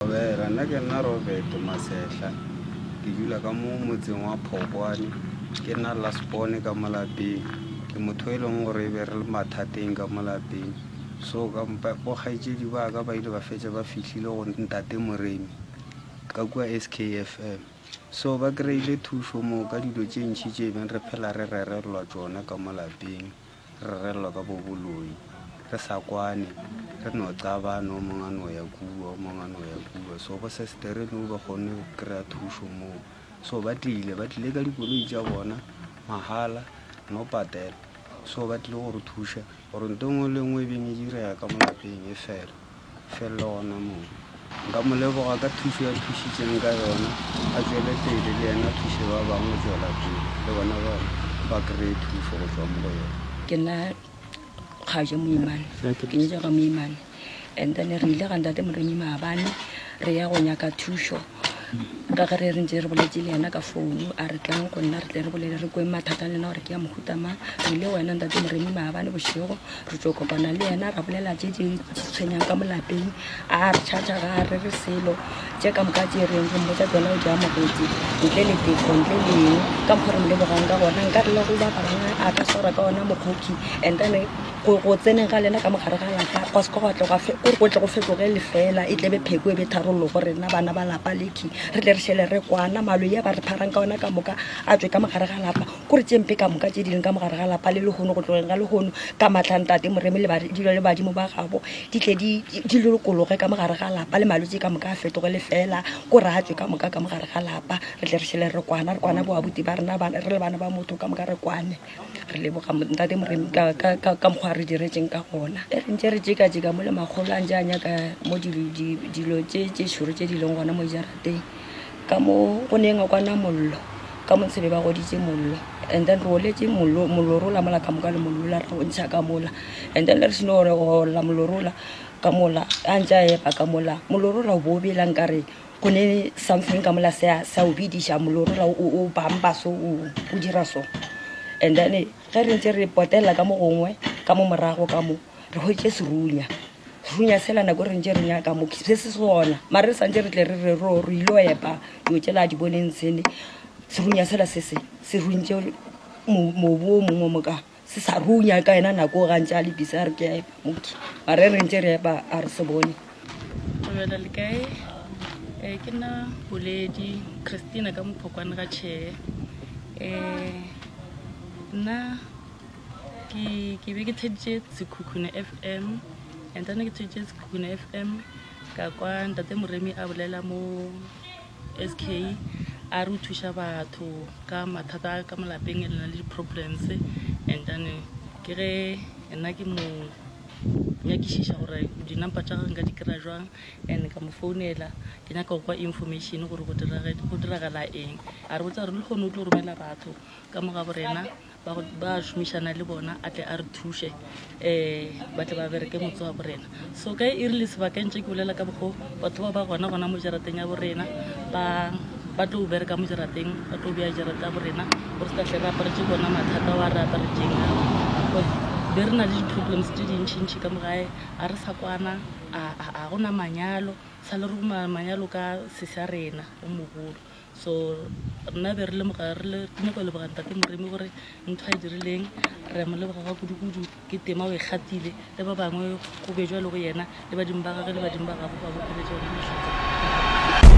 Robera, Nna ke nna Robert Masehla, ke dula ka mo motseng wa Phokwane, ke nna lasbone ka mo lapeng, ke motho e leng gore e be re le mathateng ka mo lapeng. So ka bo kgaetšedi ba ka ba ile ba fetša ba fihlile go ntate Moremi ka kua SKFM, so ba kry-ile thušo moo ka dilo tše ntši tše e beng re phela re rerelwa tšona ka mo lapeng. Re rerelwa ka boboloi, re sa kwane, re no xabana, o mongwe a no ya kua, o mongwe a no ya kua. So bo sestere no ba kgonne go kry-a thušo moo, so ba tlile, ba tlile ka dikoloi tša bona mahala, no patela. So ba tlile go re thuša gore ntho e nngwe le e nngwe e beng e direga ka mo lapeng e fele. felelo gona moo. Nka mo leboga ka thušo ya thušitšeng ka yona, a tšwele pele le yena a thuše ba bangwe go tšwela pele le bona ba ba kry-e thušo go tšwa mo go yena. Ke nna kgajo moimane, ke nyetšwa ga moimane and then re ile ga ntate Modonyi maabane re ya go nyaka thušo. Ragare re ntše re boletše le yena ka founu a re tlang go nna re tle re bolele re kweng mathata le na gore ke ya mohuta mang re ile wena ntate moremi maabane bošego re tlo kopana le yena ra bolela tše di tshwenyang ka molapeng a re tšhatšha ga re re selo tše ka moka tše reng go mmotsa tsona o jea mokgotsi ntle le tefo ntle le eng ka mokgwa re mo lebogang ka gona nka re le go ba barana a ka swara ka ona mokgokhi and then go go tseneng ga lena ka mogare ga lapa kwa seka gwa tle gwa fe o re go tle go fetoge lefela e tlebe pheko e be tharollo go rena bana ba lapa leki re tle re šele re kwana malo ya ba re pharang ka ona ka moka a tswe ka mogare ga lapa ko re tšempe ka moka tše di leng ka mogare ga lapa le lehono go tlogeng ga lehono ka matlhang tate moremi le dilo le badimo ba gabo di tle di di lokologe ka mogare ga lapa le malwetse ka moka a fetoge lefela ko re a tswe ka moka ka mogare ga lapa re tle re šele re kwana re kwana boabuti ba rena re le bana ba motho ka moka re kwane re leboga ntate moremi ka mokgwa re diretseng ka gona e re ntse re jeka-jeka mo le magolo a ntse a nyaka mo dilo tse šoro tse di leng gona mo jarateng ka mo go neng a kwana mollo ka montshebe ba goditse mollo and then re oletse mollo mollo rola mola ka moka le mollo la re o ntsha ka mola and then le re seno gore go olla mollo rola ka mola a ntse a epa ka mola mollo rola o bo o bela nkare Go ne something ka mola se a- se a o bidiša, mollo o rela o- o- o bamba so, o o dira so. And then ge re ntše re potelela ka mo gongwe, ka mo morago ka mo, re hweditše serunya. Serunya sela nako e re ntše re nyaka mo, se se sona. Mara re sa ntše re tle re re ro- re il'o epa dilo tšela di boneng tsene, serunya sela se se, se runtše mo- mobu o mongwe o mo ka. se sa runya ka yena nako ga ntse a le bisa re ke moki mare re ntse re epa a re se bone dumela le kae um ke nna boledi christina ka mophokwane ga tšhee um nna ke be ke theditše sekhukhune f m and then ke theditše sekhukhune f m ka kwa ntate moremi a bolela mo sk a re o thuša batho ka mathata a ka molapeng e lena le di-problems and then ke ge nna ke mo nyakišiša gore di-number tša gage nka di kry-a jwang and ka mo founela ke nyaka go kwa information gore go diragala eng a re botsa gore le kgone o tlo romela batho ka mo ga borena ba šomišana le bona a tle a re thuše um ba tle ba bereke motse wa borena so ka e rile sebakeng tše ke bolela ka bokgo batho ba ba gona gona mo jarateng ya borena ba tlo bereka mo jarateng ba tlo bea jarata ya borena gore se ka tle re aparetse bona mathata wa re aparetseng ao be re na le di-problems tse dintšhintšhi ka mogae a re sa kwana a gona manyalo sa le re manyalo ka sesa rena o mogolo So rena be re lemoga re le re nyako leboga ntate moremi gore ntho a e dirileng re mo leboga ga kudu-kudu ke tema o e gatile le ba bangwe go bejwa le go yena le badimo ba gage le badimo ba gago ba bokeletsa yone matlhatsa